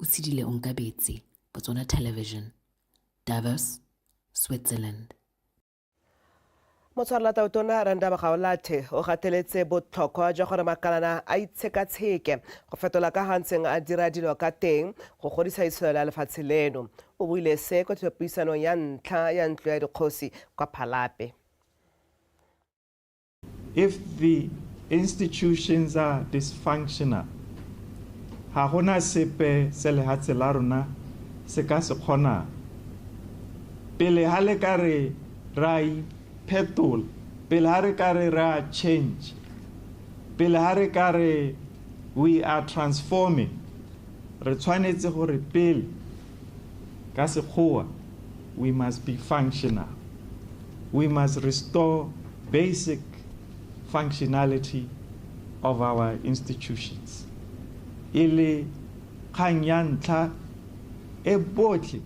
O tshedile Onkabetse, Botswana Television, Davos, Switzerland. Motshwarelatlaotona Randa Bagaolathe o gateletse botlhokwa jwa gore makalana a itshekatsheke go fetola ka ga ntseng a dira dilo ka teng go godisa itsholelo ya lefatshe leno. O buile se kwa thulapuisanong ya ntlha ya ntlo ya dikgosi kwa Phalape. If the institutions are dysfunctional, ga gona sepe se lehatshe la rona se ka se kgonang. Pele ha le ka re ra iphetola, pele ha re ka re ra change, pele ha re ka re we are transforming, re tshwanetse gore pele Ka Sekgowa, we must be functional. We must restore basic functionality of our institutions. E le kgang ya ntlha e botlhe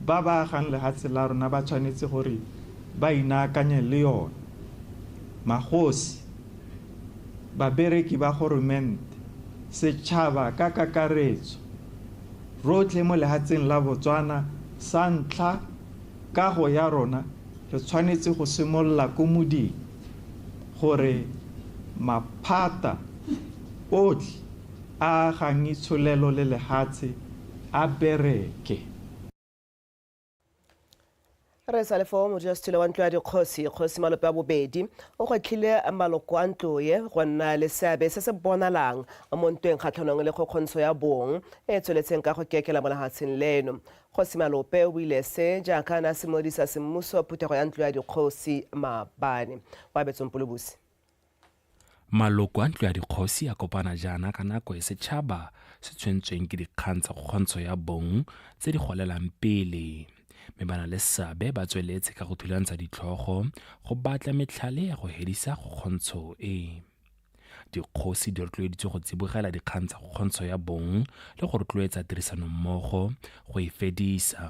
ba ba agang lehatshe la rona ba tshwanetse gore ba inaakanye le yone. Magosi, babereki ba goromente, setšhaba ka kakaretso, rotlhe mo lehatsheng la Botswana, sa ntlha, kago ya rona re tshwanetse go simolola ko moding gore maphata otlhe a agang itsholelo le lehatshe a bereke. re sa lefo modulasetilo wa ntlo ya dikgosi kgosi malope a bobedi o gwetlhile maloko a ntlo ye go nna le seabe se se bonalang mo ntweng kgatlhanong le kgokgontsho ya bong e e tsweletseng ka go kekela mo lehatsheng leno kgosi malope o buile se jaaka a ne a simolodisa semmuso phuthego ya ntlo ya dikgosi maabane wa betsong polobusi Maloko a Ntlo ya Dikgosi a kopana jaana ka nako e setšhaba se tshwentsweng ke dikgang tsa kgokgontsho ya bong tse di golelang pele, mme ba na le seabe ba tsweletse ka go thulantsa ditlhogo go batla metlhale ya go hedisa kgokgontsho e. Dikgosi di rotloeditswe go tsibogela dikgang tsa kgokgontsho ya bong le go rotloetsa tirisanommogo go e fedisa.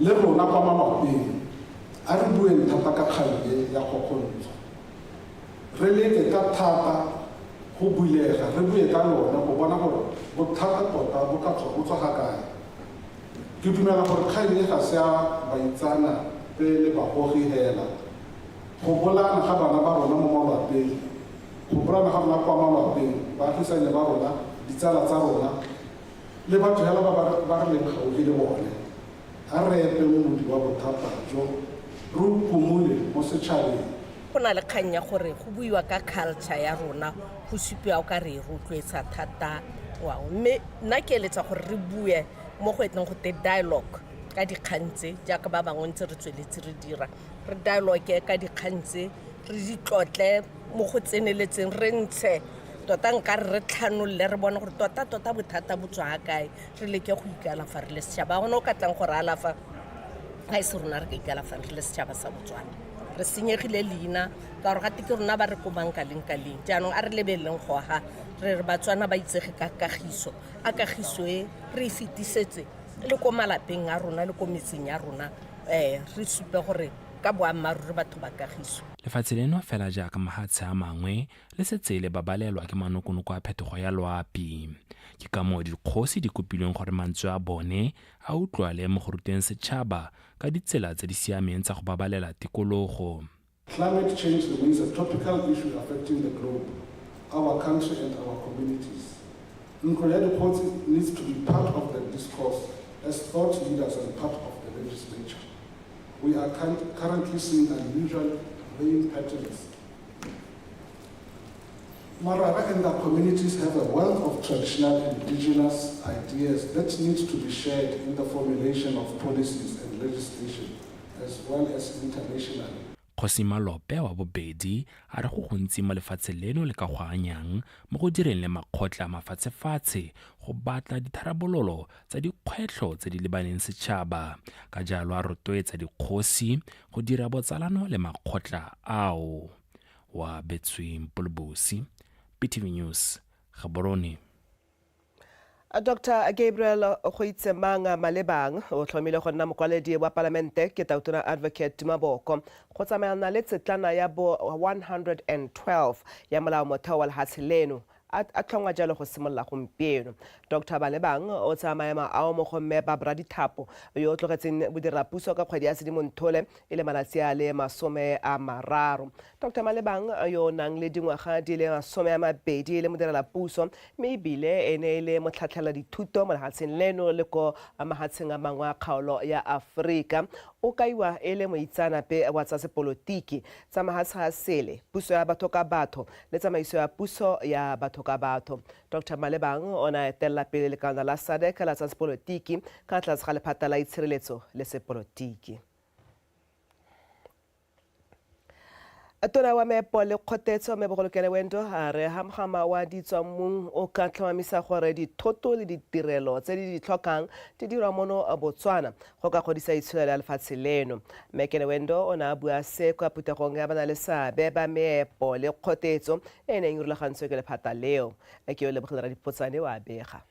Le rona kwa malwapeng, a re bueng thata ka kgang e ya kgokgontsho. Re leke ka thata go bulega re bue ka yona go bona gore bothata tota bo ka tswa bo tswa ga kae. Ke dumela gore kgang e ga se ya baitsana pe le bagogi hela. Go bolaana ga bana ba rona mo malwapeng, go bolaana ga rona kwa malwapeng, baagisane ba rona, ditsala tsa rona, Le batho hela ba ba ba re leng gaufi le bone, a re epe modi wa bothata jo, re o phumole mo setšhabeng. Go na le kgang ya gore go buiwa ka culture ya rona go supiwa o ka re e rotloetsa thata ngwao, mme nna ke eletsa gore re bue mo go eteng go te dialogue ka dikgang tse jaaka ba bangwe ntse re tsweletse re dira, re dialogue ka dikgang tse, re di tlotle mo go tseneletseng, re ntshe tota nka re re tlhanolole re bone gore tota tota bothata bo tswa kae re leke go ikalafa re le setšhaba gone o ka tlang gore alafa ga e se rona re ka ikalafa re le setšhaba sa botswana re senyegile leina ka gore gate ke rona ba re komang ka leng ka leng jaanong a re lebeleleng go aga re re batswana ba itsege ka kagiso a kagiso e re e fetisetse le ko malapeng a rona le ko metseng ya rona um re supe gore ka boammaaruri batho ba kagiso lefatshe leno fela jaaka mahatshe a mangwe le setse le babalelwa ke manokonoko a phetogo ya loapi ke ka moo dikgosi di kopilweng gore mantswe a bone a utlwale mo go ruteng setšhaba ka ditsela tse di siameng tsa go babalela tikologo Climate change remains a topical issue affecting the globe, our country and our communities. Ntlo ya Dikgosi needs to be part of the discourse as thought leaders and part of the legislature. We are currently seeing unusual rain patterns Morara and the communities have a wealth of traditional indigenous ideas that need to be shared in the formulation of policies and legislation as well as internationally. Kgosi Malope wa bobedi a re go gontsi mo lefatshe leno le ka go anyang mo go direng le makgotla mafatshefatshe go batla ditharabololo tsa dikgwetlho tse di lebaneng setšhaba ka jalo a rotloetsa dikgosi go dira botsalano le makgotla ao wa betsweng polobosi ptv news gaborone dr gabriel goitsemang malebang o tlhomile go nna mokwaledi wa palamente ke tautona advocate tumaboko go tsamaelana le tsetlana ya bo 112 ya molao motheo wa lehatshe leno a a tlhongwa jalo go simolola gompieno. Doctor Balebang o tsaya maemo ao mo go Mme Barbara Dithapo yo o tlogetseng bodirelapuso ka kgwedi ya Sedimonthole e le malatsi a le masome a mararo. Doctor Malebang yo o nang le dingwaga di le masome a mabedi e le modirelapuso mme ebile e ne e le motlhatlhela dithuto mo lehatsheng leno le ko mahatsheng a mangwe a kgaolo ya Aforika o kaiwa e le moitsaanape wa tsa sepolotiki tsa mahatsha a sele, puso ya batho ka batho le tsamaiso ya puso ya batho ka batho. Doctor Malebang o ne a etelela pele lekana la SADC la tsa sepolotiki ka tlase ga lephata la itshireletso le sepolotiki. Tona wa meepo le kgotetso me Bogolokele Wendo a re ha mogama wa ditswammung o ka tlhomamisa gore dithoto le ditirelo tse di di tlhokang di dirwa mono Botswana go ka godisa itsholelo ya lefatshe leno. Mme Kenewendo o ne a bua se kwa phuthegong ya bana le seabe ba meepo le kgotetso e neng e rulagantswe ke lephata leo. Ke o Lebogile Radipotsane o a bega.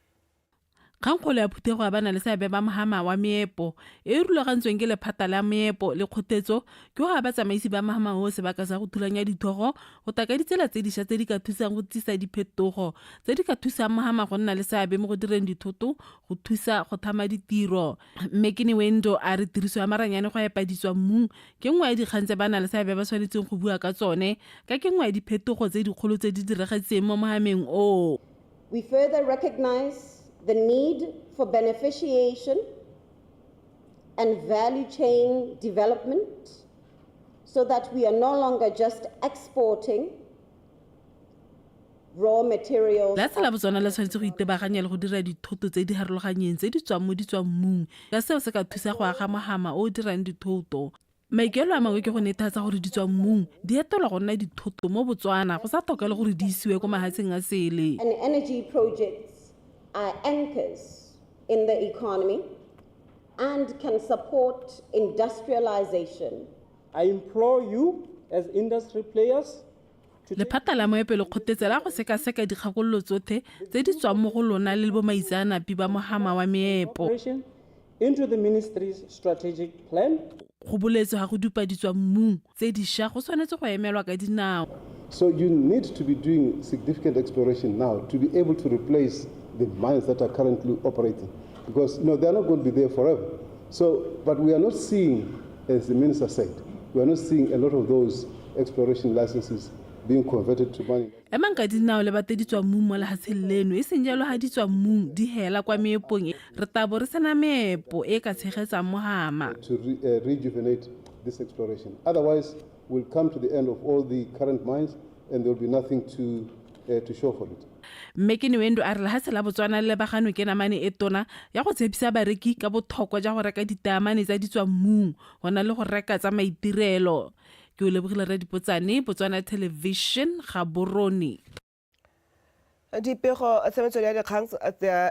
Kgangkgolo ya phuthego ya bana le seabe ba mohama wa meepo e e rulagantsweng ke lephata la meepo le kgotetso ke go aba tsamaisi ba mohama oo sebaka sa go thulanya dithogo go taka ditsela tse diša tse di ka thusang go tsisa diphetogo tse di ka thusang mohama go nna le seabe mo go direng dithoto go thusa go thama ditiro mme ke ne wendo a re tiriso ya maranyane go epa ditswa mmung ke nngwe ya dikgang tse ba na le seabe ba tshwanetseng go bua ka tsone ka ke nngwe ya diphetogo tse dikgolo tse di diragetseng mo mohameng oo We further recognize the need for beneficiation and value chain development so that we are no longer just exporting Lefatshe la Botswana le tshwanetse go itebaganya le go dira dithoto tse di harologanyeng tse di tswang mo ditswammung ka seo se ka thusa go aga mohama o o dirang dithoto. Maikaelelo a mangwe ke go nethatsa gore ditswammung di etelwa go nna dithoto mo Botswana go sa tlhokale gore di isiwe ko mahatsheng a sele. Lephata la moepe le kgotetse la go sekaseka dikgakololo tsothe tse di tswang mo go lona le bomaitseanapi ba mohama wa meepo. Go boletswe ga go dupa ditswa mmung tse disha go tshwanetse go emelwa ka dinao. So you need to be doing significant exploration now to be able to replace the mines that are currently operating because you know they are not going to be there forever. So, but we are not seeing As the minister said, we are not seeing a lot of those exploration licenses being converted to money. Emang ka dinao le bate ditswammung mo lehatsheng leno e seng jalo ha ditswammung di hela kwa meepong re tabo re sena meepo e ka tshegetsang mohama. To re, uh, rejuvenate this exploration. Otherwise, Mme Kiniwendu a re lehatshe la Botswana le lebaganwe ke namane e tona ya go tshepisa bareki ka bothokwa ja go reka ditaamane tsa ditswammung go na le go reka tsa maitirelo. Ke Olebogile Redipotsane, Botswana Television, Gaborone. dipego tsa metswedi ya dikgang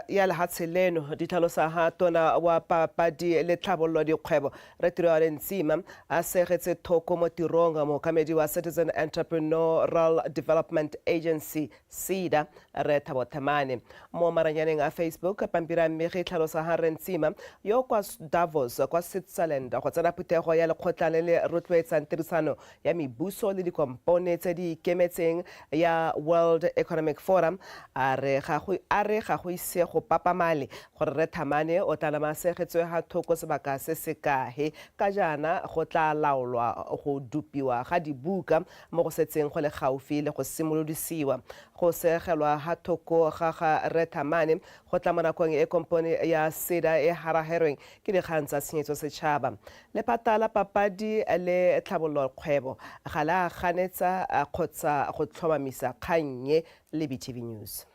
ya lehatshe leno di tlhalosa ha tona wa papadi le tlhabololo dikgwebo re tiroale ntsima a segetse thoko mo tirong mookamedi wa citizen entrepreneurial development agency ceda re thabo themane mo maranyaneng a facebook pampiri a mmege e tlhalosa ha re ntsima yo kwa davos kwa switzerland go tsena phuthego ya lekgotla le le rotloetsang tirisano ya mebuso le dikompone tse di ikemetseng ya World Economic Forum a re ga go a re ga go ise go papamale gore Rre Thamane o tla nama segetswe ga thoko sebaka se se kahe ka jaana go tla laolwa go dupiwa ga dibuka mo go setseng go le gaufi le go simolodisiwa go segelwa ga thoko ga ga Rre Thamane go tla mo nakong e kompone ya SEDA e haraherweng ke dikgang tsa tshenyetso setšhaba Lephata la Papadi le Tlhabololokgwebo ga le a ganetsa kgotsa go tlhomamisa kgang e le BTV News.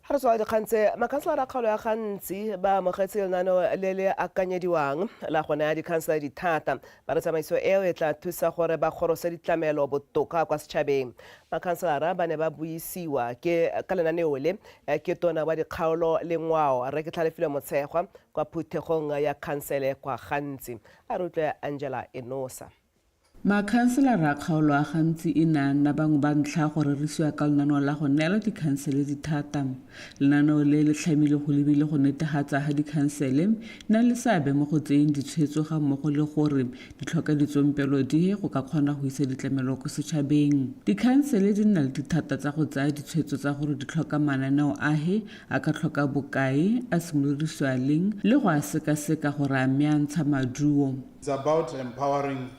Ga re tswa dikgang tse, makhanselara a kgaolo ya Gantsi ba amogetse lenaneo le le akanyediwang la go naya dikhansela dithata. Ba re tsamaiso eo e tla thusa gore ba gorose ditlamelo botoka kwa setšhabeng. Makhanselara ba ne ba buisiwa ke ka lenaneo le ke tona wa dikgaolo le ngwao Rre Ketlhalefile Motshegwa kwa phuthegong ya khansele kwa Gantsi. A re utlwe Angela Enosa. Makhanselara a kgaolo a gantsi e ne a nna bangwe ba ntlha go rerisiwa ka lenaneo la go neela dikhansele dithata. Lenaneo le le tlhamile go lebile go netegatsa ga dikhansele na le seabe mo go tseyeng ditshwetso ga mmogo le gore di tlhoka ditsompelo dihe go ka kgona go isa ditlamelo ko setšhabeng. Dikhansele di nna le dithata tsa go tsaya ditshwetso tsa gore di tlhoka mananeo ahe, a ka tlhoka bokae, a simolodisiwa leng le go a sekaseka gore a mme a ntsha maduo. It's about empowering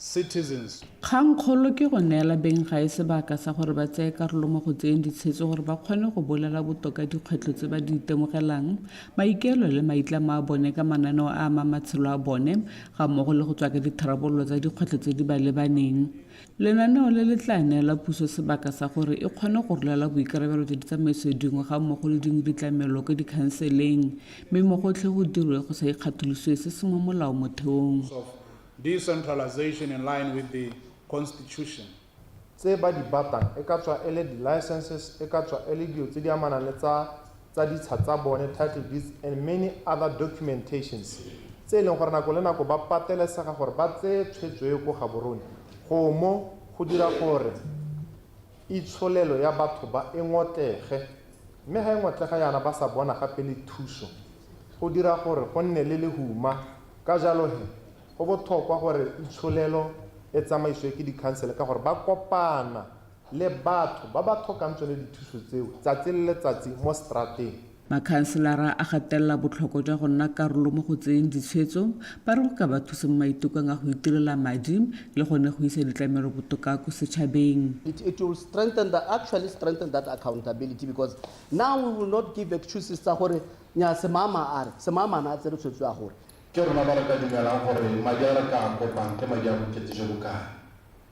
citizens. Kgangkgolo ke go neela beng gae sebaka sa gore ba tseye karolo mo go tseyeng ditshetso gore ba kgone go bolela botoka dikgwetlho tse ba di itemogelang, maikaelo le maitlamo a bone ka mananeo a a amang matshelo a bone, gammogo le go tswaka ditharabololo tsa dikgwetlho tse di ba lebaneng. Lenaneo le le tla neela puso sebaka sa gore e kgone go rolela boikarabelo jwa ditsamaiso dingwe ga mmogo le dingwe ditlamelo kwa dikhanseleng mme mo gotlhe go dirwe go sa ikgatholosiwe se se mo molaomotheong. decentralization in line with the Constitution. tse ba di batang e ka tswa e le di licenses, e ka tswa e le dilo tse di amanang le tsa. tsa ditsha tsa bone, title deeds, and many other documentations, tse e leng gore nako le nako ba patelesega gore ba tseye tshwetso e ko Gaborone gomo go dira gore itsholelo ya batho ba e ngotlege, mme ga e ngotlega yana ba sa bona gape le thuso, go dira gore go nne le lehuma. Ka jalo he, go bothokwa gore itsholelo e tsamaisiwe ke dikhansele ka gore ba kopana le batho ba ba thokang tsone dithuso tseo tsatsi le letsatsi mo strateng. Makhanselara a gatelela botlhokwa jwa go nna karolo mo go tseyeng ditshwetso, ba re go ka ba thusa mo maitekong a go itirela madi le gone go isa ditlamelo botoka ko setšhabeng. It it will strengthen the actually strengthen that accountability because now we will not give excuses tsa gore nyaa semama a re semama na a tsere tshwetso ya gore Ke rona ba re ka dumelang gore madi a re ka a kopang ke madi a bokete jo bo kae.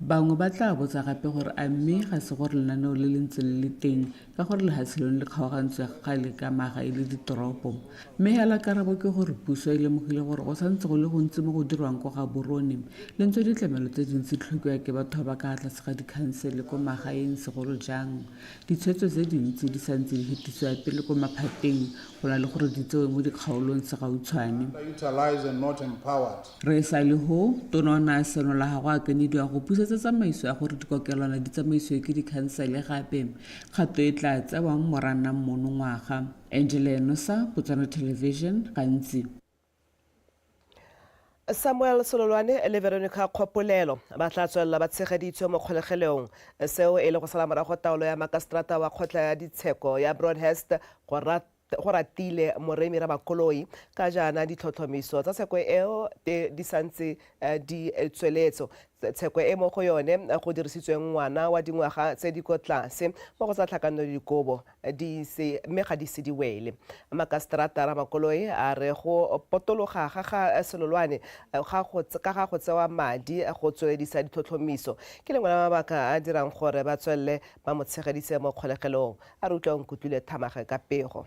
Bangwe ba tla botsa gape gore a mme ga se gore lenaneo le le ntse le le teng ka gore lehatshe leno le kgaogantswe ga kgale ka maga e le ditoropo. Mme hela karabo ke gore puso e lemogile gore go santse go le gontsi mo go dirwang ko Gaborone, le ntswe ditlamelo tse dintsi tlhokiwa ke batho ba ba ka tlase ga dikhansele ko magaeng segolo jang ditshwetso tse dintsi di santse di hetisiwa pele ko maphateng go na le gore di tsewe mo dikgaolong segautshwane. Re e sa le ho, Tona o ne a senola ga go akanediwa go busetsa tsamaiso ya gore dikokelwana di tsamaisiwe ke dikhansele gape, kgato e tla tsewang Moranang monongwaga. Angela Enosa, Botswana Television, gantsi. Samuel Sololwane le Veronica Kgopolelo ba tla tswelela ba tshegeditswe mo kgolegelong, seo e le go sala morago taolo ya makaseterata wa kgotla ya ditsheko ya Broadhurst go Go ratile Moremi Rabakoloi ka jaana ditlhotlhomiso tsa tsheko eo te di santse di tsweletso. Tsheko e mo go yone go dirisitsweng ngwana wa dingwaga tse di ko tlase mo go tsa tlhakanelo dikobo di ise mme ga di se di wele. Makaseterata Ramakoloi a re go potologa ga ga Selolwane ga go ka ga go tsewa madi go tsweledisa ditlhotlhomiso ke lengwe la mabaka a dirang gore ba tswelele Ba mo tshegeditse mo kgolegelong, a re utlwa o nkutlwile thamage ka pego.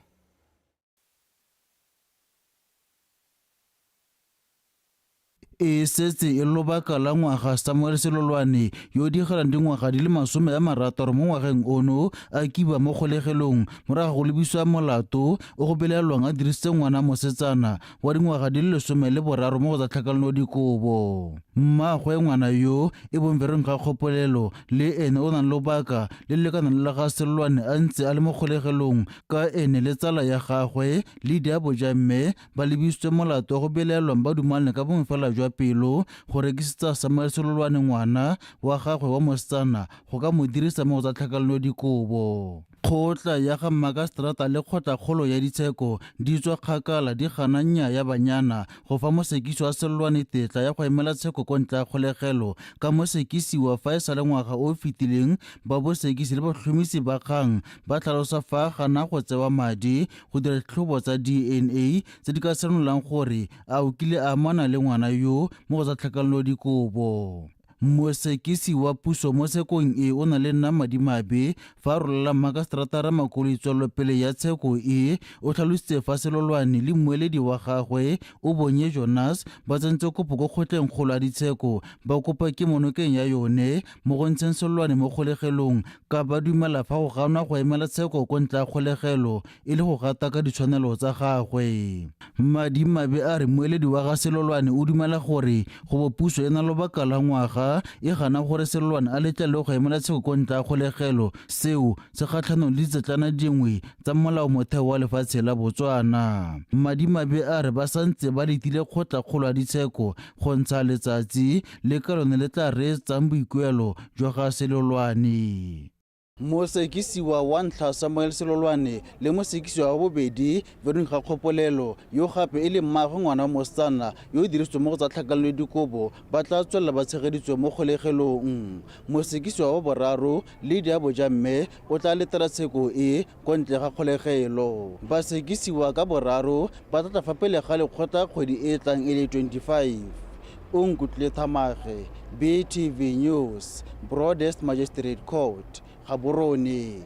E setse e le lobaka la ngwaga Samuel Selolwane, yo o digelang dingwaga di le masome a marataro mo ngwageng ono, a kiba mo kgolegelong morago ga go lebiswa molato o go belaelwang a dirisitse ngwana mosetsana wa dingwaga di le lesome le boraro mo go tsa tlhakanelo dikobo mmaagwe ngwana yo e bong vereng ga kgopolelo le ene o nang lobaka le lekanang le la ga selwane a ntse a le mo kgolegelong ka ene le tsala ya gagwe le diabo ja mme ba lebisitswe molato wa go belaelwang ba dumalane ka bongwe fela jwa pelo go rekisetsa samuel selolwane ngwana wa gagwe wa mosetsana go ka mo dirisa mo go tsa tlhakanelo dikobo Kgotla ya ga Mmakaseterata le Kgotlakgolo ya Ditsheko di tswa kgakala di gana nya ya banyana go fa mosekisi wa Sellwane tetla ya go emela tsheko ko ntle ga kgolegelo ka mosekisiwa fa e sa le ngwaga o o fetileng ba bosekisi le batlhomisi ba kgang ba tlhalosa fa a gana go tsewa madi go dira ditlhobo tsa DNA tse di ka senolang gore a o kile a amana le ngwana yo mo go tsa tlhakanelodikobo. Mosekisi wa puso mo tshekong e o na le nna madimabe fa a rolela Makaseterata Ramakoloi tswelelopele ya tsheko e. O tlhalositse fa Selolwane le mmueledi wa gagwe Obonye Jonas ba tsentse kopo ko kgotleng kgolo ya ditsheko ba kopa kemo nokeng ya yone mo go ntsheng Selolwane mo kgolegelong ka ba dumela fa go ganwa go emela tsheko ko ntle ga kgolegelo e le go gata ka ditshwanelo tsa gagwe. Madimabe a re moeledi wa ga Selolwane o dumela gore go bo puso e na lobaka la ngwaga e gana gore Selolwane a letlelwe go emela tsheko ko ntle ga kgolegelo, seo se kgatlhanong le ditsetlana dingwe tsa molao motheo wa lefatshe la Botswana. Madimabe a re ba santse ba letile kgotla kgolo ya ditsheko go ntsha letsatsi le ka lone le tla reetsang boikuelo jwa ga Selolwane. Mosekisiwa wa ntlha Samuel Selolwane le mosekisiwa wa bobedi Veronique Gakgopolelo yo gape e le mmaagwe ngwana wa mosetsana yo o dirisitsweng mo go tsa tlhakanelo le dikobo ba tla tswelela ba tshegeditswe mo kgolegelong. Mosekisiwa wa boraro Lydia Bojamme o tla letela tsheko e Kwa ntle ga kgolegelo, basekisiwa ka boraro ba tla tla fa pele ga lekgotla kgwedi e e tlang e le 25. O nkutlwile Thamage, BTV News, Broadest Magistrate Court, Gaborone.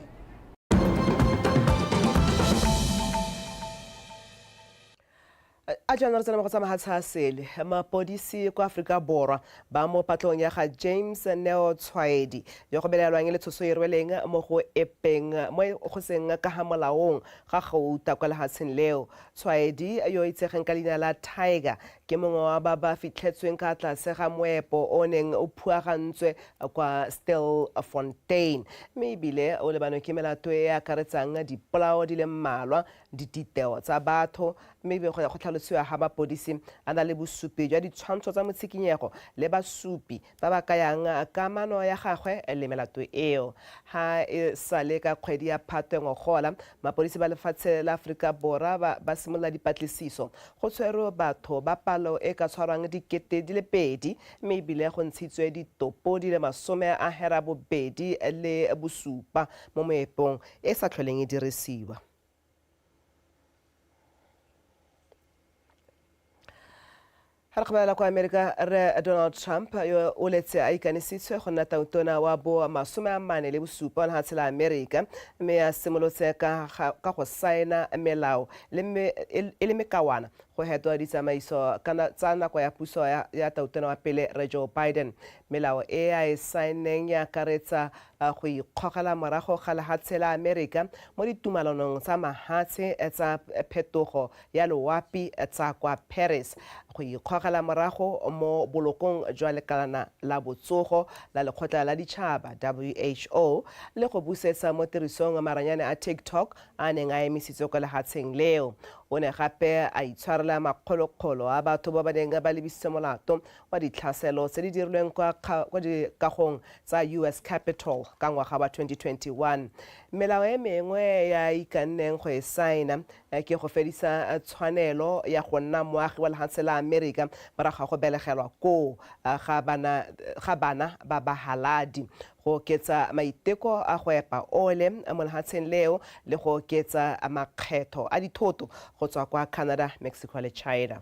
A jaana re tsena mo go tsa mahatsha a sele. Mapodisi kwa Aforika Borwa ba mo patlong ya ga James Neo Tshwaedi yo go belaelwang e le tshoso e rweleng mo go epeng mo e go seng ka ga molaong ga gauta kwa lehatsheng leo. Tshwaedi yo o itsegeng ka leina la Tiger ke mongwe wa ba ba fitlhetsweng ka tlase ga moepo o neng o phuagantswe kwa Stilfontein mme ebile o lebanwe ke melato e e akaretsang dipolao di le mmalwa dititeo tsa batho mme be go ya go tlhalosiwa ga mapodisi a na le bosupi jwa ditshwantsho tsa motshikinyego le basupi ba ba kayang kamano ya gagwe le melato eo. Ga e sa le ka kgwedi ya Phatwe ngogola, mapodisi ba lefatshe la Aforika Borwa ba, ba simolola dipatlisiso. Go tshwerwe batho ba palo e ka tshwarwang dikete di le pedi mme ebile go ntshitswe ditopo di le masome a hera bobedi le bosupa mo moepong e sa tlholeng e dirisiwa. ga re kgobala kwa amerika re donald trump yo o letse a ikanisitswe go nna tautona wa bo masome a mane le bosupa ona gatshela amerika mme a simolotse ka ga- ka go saena melao le me- e e le mekawana go hetwa ditsamaiso ka na- tsa nako ya puso ya- ya tautona wa pele re joe biden melao e a e saeneng e akaretsa a go ikgogela morago ga lehatshe la Amerika mo ditumalanong tsa mahatshe tsa phetogo ya loapi tsa kwa Paris, go ikgogela morago mo bolokong jwa lekalana la botsogo la lekgotla la ditšhaba, WHO, le go busetsa mo tirisong maranyane a TikTok a neng a emisitswe kwa lehatsheng leo. O ne gape a itshwarela makgolokgolo a batho ba ba neng ba lebisitse molato wa ditlhaselo tse di dirilweng kwa kwa dikagong tsa US Capitol ka ngwaga wa 2021. Melao e mengwe ya ikanneng go e saena ke go fedisa tshwanelo ya go nna moagi wa lehatshe la Amerika morago ga go belegelwa koo ga bana ga bana ba bahaladi, go oketsa maiteko a go epa ole mo lehatsheng leo le go oketsa makgetho a dithoto go tswa kwa Canada, Mexico le China.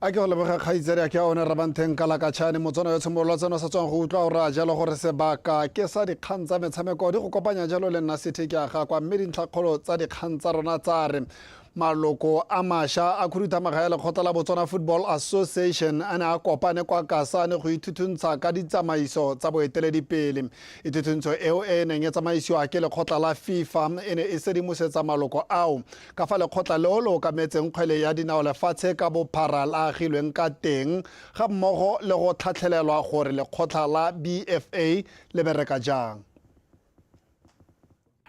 a ke go leboga kgaitsadi a ke a one rabanteng ka lakatšhane motswana yo tshimolola tseno sa tswang go utlwa o raya jalo gore sebaka ke sa dikgang tsa metshameko di go kopanya jalo le nna sethe ke a gakwa mme dintlhakgolo tsa dikgang tsa rona tsa re maloko a masha a khuduthamaga ya lekgotla la botswana football association a ne a kopane kwa kasane go ithuthuntsa ka ditsamaiso tsa boeteledipele ithuthuntso eo e neng e tsamaisiwa ke lekgotla la fifa e ne e sedimosetsa maloko ao Ka fa lekgotla leo le okametseng kgwele ya dinao lefatshe ka bophara le agilweng ka teng, ga mmogo le go tlhatlhelelwa gore lekgotlha la BFA le bereka jang.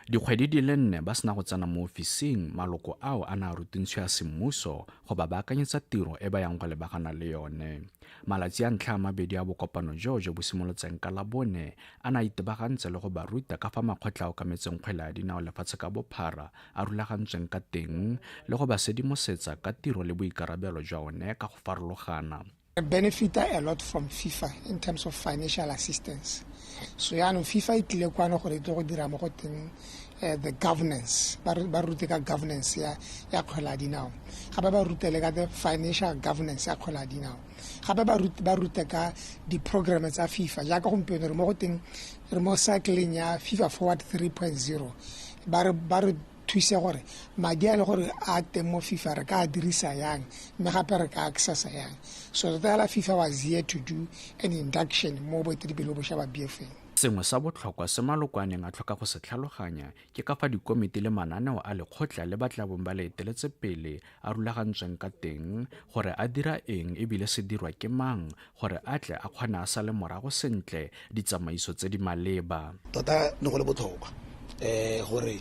Dikgwedi di le nne ba sena go tsena mo ofising, maloko ao a ne a rutintsho ya semmuso go ba baakanyetsa tiro e ba yang go lebagana le yone. Malatsi a ntlha a mabedi a bokopano joo jo bo simolotseng ka Labone a ne a itebagantse le go ba ruta ka fa makgotla a okametseng kgwele ya dinao lefatshe ka bophara a rulagantsweng ka teng le go ba sedimosetsa ka tiro le boikarabelo jwa one ka go farologana benefita a lot from fifa in terms of financial assistance so yaanong fifa e tlile kwano gore e tle go dira mo go teng uh, the governance ba rute ka governance ya ya kgwela dinao gape ba rute le ka the financial governance ya kgwela dinao gape ba rute ka di-programme tsa fifa jaaka gompieno re mo go teng re mo cycling ya fifa forward 3.0 ba re thuse gore madi a le gore a teng mo fifa re ka dirisa yang mme gape re ka accessa yang so tota fela fifa was here to do an induction mo boeteledipele bošwa ba bfeng sengwe sa botlhokwa se malokwaneng a tlhoka go se tlhaloganya ke ka fa dikomiti le mananeo a lekgotla le ba tlabong ba le eteletse pele a rulagantsweng ka teng gore a dira eng ebile se dirwa ke mang gore a tle a kgone a sale morago sentle ditsamaiso tse di maleba tota ne go le botlhokwa um gore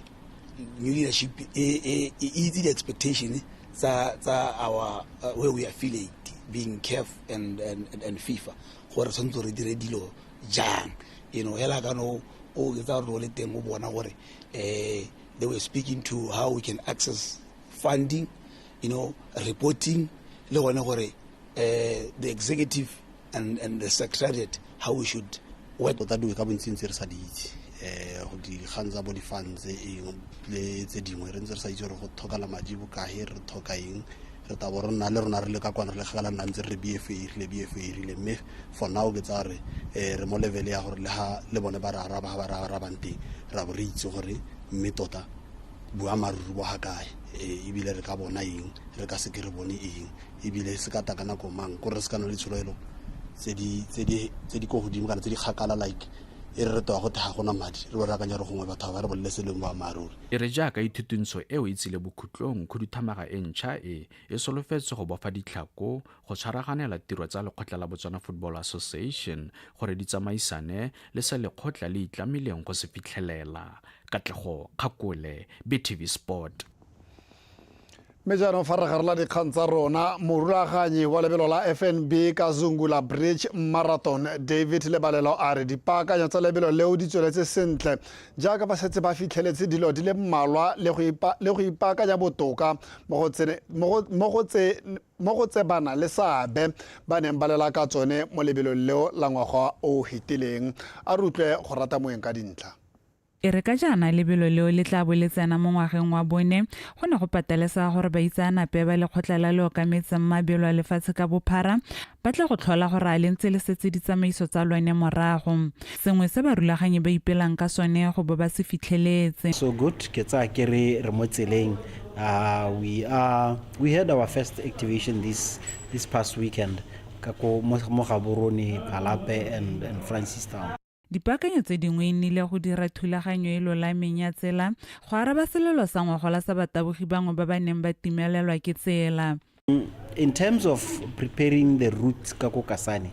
new leadership e itse di-expectation tsa our uh, where we affiliate being caf and, and, and fifa gore tshwanetse re dire dilo jang you know hela ka no o etsa gore o le teng o bona gore um they were speaking to how we can access funding you know reporting le gone gore uh, the executive and, and the secretariat how we should work tota dingwe ka bontsintsi re sa di itse um go dikgang tsa bo di-funds eng le tse dingwe re ntse re sa itse gore go tlhokala madi bokae re tlhoka eng re tabo re nna le rona re le ka kwana re le kgakala nna ntse re re bfa erile bfa erile mme for now ke tsa gore um re mo level ya gore le ga le bone ba re araba ga ba re arabang teng ra bo re itse gore mme tota boamaruri bo ga kae eh, ebile re ka bona eng re ka seke re bone eng ebile se ka ta ka nako mang kore re se ka na le tshologelo tse di ko godimo kana tse di kgakala like e re re toa go thega gona madi re bo re akanya gore gongwe batho ba re bolele se leng boammaaruri e re jaaka ithutuntsho eo e tsile bokhutlong khuduthamaga e ntšha e e solofetse go bofa ditlhako go tshwaraganela tiro tsa lekgotla la botswana football association gore di tsamaisane le se lekgotla le itlamileng go se fitlhelela katlego kgakole btv sport mme jaanong fa re garola dikgang tsa rona morulaganyi wa lebelo la fnb ka zungula bridge marathon david lebalelo a re dipaakanyo tsa lebelo leo di tsweletse sentle jaaka ba setse ba fitlheletse dilo di le mmalwa le go ipaakanya botoka mo go tse mo go tse bana le seabe ba neng ba lela ka tsone mo lebelong leo la ngwaga o o fetileng. A re utlwe go rata moeng ka dintlha. E re ka jaana lebelo leo le tla bo le tsena mo ngwageng wa bone, go ne go patelesega gore baitseanape ba Lekgotla la le Okametseng Mabelo a Lefatshe ka Bophara ba tle go tlhola gore a le ntse le setse ditsamaiso tsa lone morago, sengwe se barulaganyi ba ipelang ka sone go bo ba se fitlheletse. So good, ke tsaya ke re re mo tseleng, we are. We had our first activation this, this past weekend ka ko mo mo Gaborone, Phalape and, and Francistown. Dipaakanyo tse dingwe e nnile go dira thulaganyo e lolameng ya tsela go araba selelo sa ngwagola sa batabogi bangwe ba ba neng ba timelelwa ke tsela. In terms of preparing the route ka ko Kasane,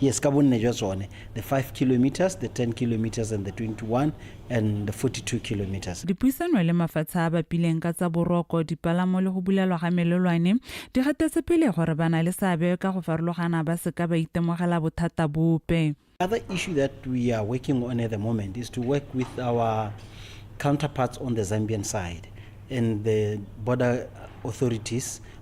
Yes, ka bonne jwa tsone, the 5 kilometres, the 10 kilometres and the 21 and the 42 kilometres. Dipuisano le mafatshe a a bapileng ka tsa boroko, dipalamo le go bulelwa ga melelwane di gatetse pele gore ba na le seabe ka go farologana ba se ka ba itemogela bothata bope. Other issue that we are working on at the moment is to work with our counterparts on the Zambian side and the border authorities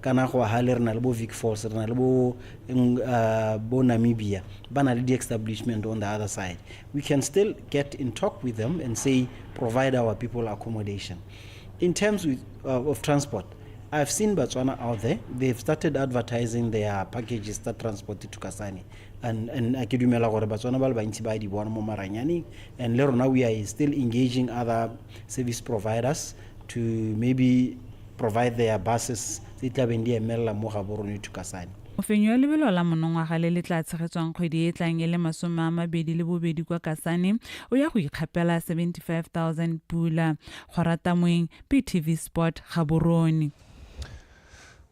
kana go hale re na le bo vic falls re na le bo uh, bo namibia ba na le di-establishment on the other side we can still get in talk with them and say provide our people accommodation in terms with, uh, of transport I've seen Botswana out there. They've started advertising their packages that transport to Kasane. And, and I dumela gore Botswana ba le bantsi ba di bona mo maranyane. And le rona we are still engaging other service providers to maybe Provide their buses tse di tlabeng di emelela mo gabo rone Thukasane. Mofenyi wa lebelo la monongwaga le le tlaa tshegetswang kgwedi e e tlang e le masome a mabedi le bobedi kwa Kasane o ya go ikgapela 75000 pula. Kgora Tamoeng, PTV Sport, Gaborone.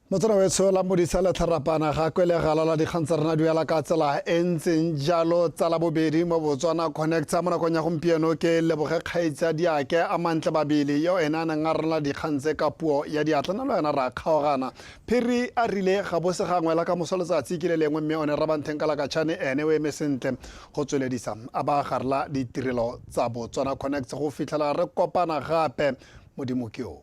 Motsana wetsho la modisa le tharapana ga kwe le galala dikgang tsa rena duela ka tsela e ntseng jalo tsa la bobedi mo botswana connecta mo nakong ya gompieno ke leboge kgaitsa diake a mantle babele yo ene a neng a rena Kgang tse ka puo ya diatla nalo yana ra kgaogana. Phiri a rile ga bo se gangwe la ka moso letsatsi ke le lengwe mme one Rabantheng ka lakatšhane ene o eme sentle go tsweledisa a ba gare la ditirelo tsa Botswana Connects go fitlhela re kopana gape modimo ke o.